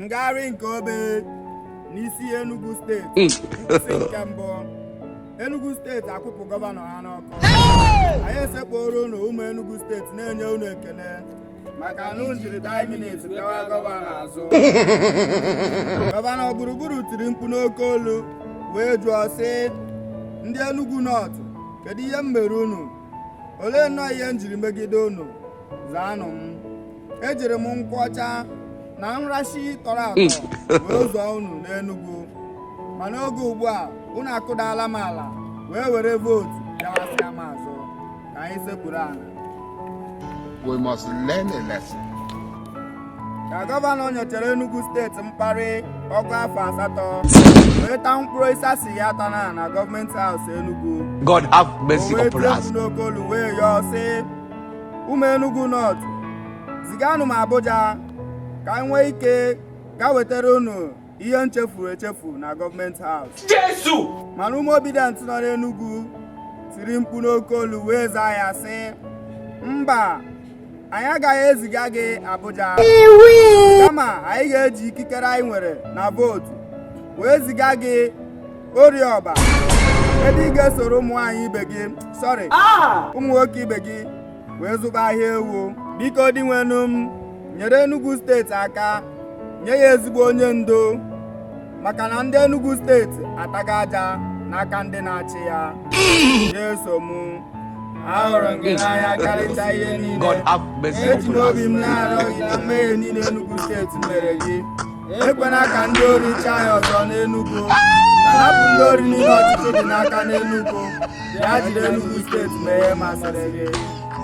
ngagharị nke obe n'isi Enugu steeti nkwụsị nke mbụ Enugu steeti akwụpụ gọvanọ ha n'ọkụ anyị esekpuoro unu ụmụ Enugu steeti na-enye unu ekele maka na unu jiri die minute gawa gọvanọ azụ gọvanọ gburugburu tiri mkpu n'oke olu wee jụọ sị ndị Enugu North kedu ihe m mere unu olee nnọọ ihe m jiri megide unu zaanụ m ejiri m nkwụ ọcha na nrashi tọrọ atọ hmm. wee zụọ unu n'Enugu ma n'oge ugbu a unu akụdala m ala wee were vootu gawasịa m azụ ka anyị sekpuru ala we must learn a lesson. ka gọvanọ nyechara Enugu steeti mkparị ọgụ afọ asatọ wee taa mkpụrụ ịsasị ya taa na na gọọmenti haus Enugu God have mercy upon us. wee tie n'oke olu wee yọọ sị ụmụ Enugu North ziganụ m Abuja ka anyị nwee ike gaa wetara unu ihe nchefuru echefu na gọọmenti haus Jesu mana ụmụ Obidient nọ n'Enugu tiri mkpu n'oke olu wee zaa ya sị mba anyị agaghị eziga gị Abuja kama anyị ga-eji ikikere anyị nwere na vootu wee ziga gị Orie Ọba ebe ị ga-esoro ụmụ nwaanyị ibe gị sorry ah! ụmụ nwoke ibe gị wee zụba ahịa ewu biko Dinwenụ m nyere Enugu steeti aka nye ya ezigbo onye ndu maka na ndị Enugu steeti ataga aja n'aka ndị na-achị ya Jesu m ahụrụ m gị n'anya karịcha ihe niile eji m obi m na-arịọ gị na mmehie niile Enugu steeti mere gị ekwena ka ndị ori chịa anyị ọzọ n'Enugu hapụ ndị ori niile ọchịchị dị n'aka n'Enugu bịa jiri Enugu steeti mee ihe masịrị gị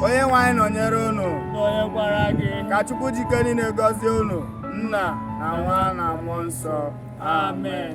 onye nwe anyị nọnyere unu nọnyekwara gị ka Chukwu ji ike niile gọzie unu nna na nwa na mmụọ nsọ amen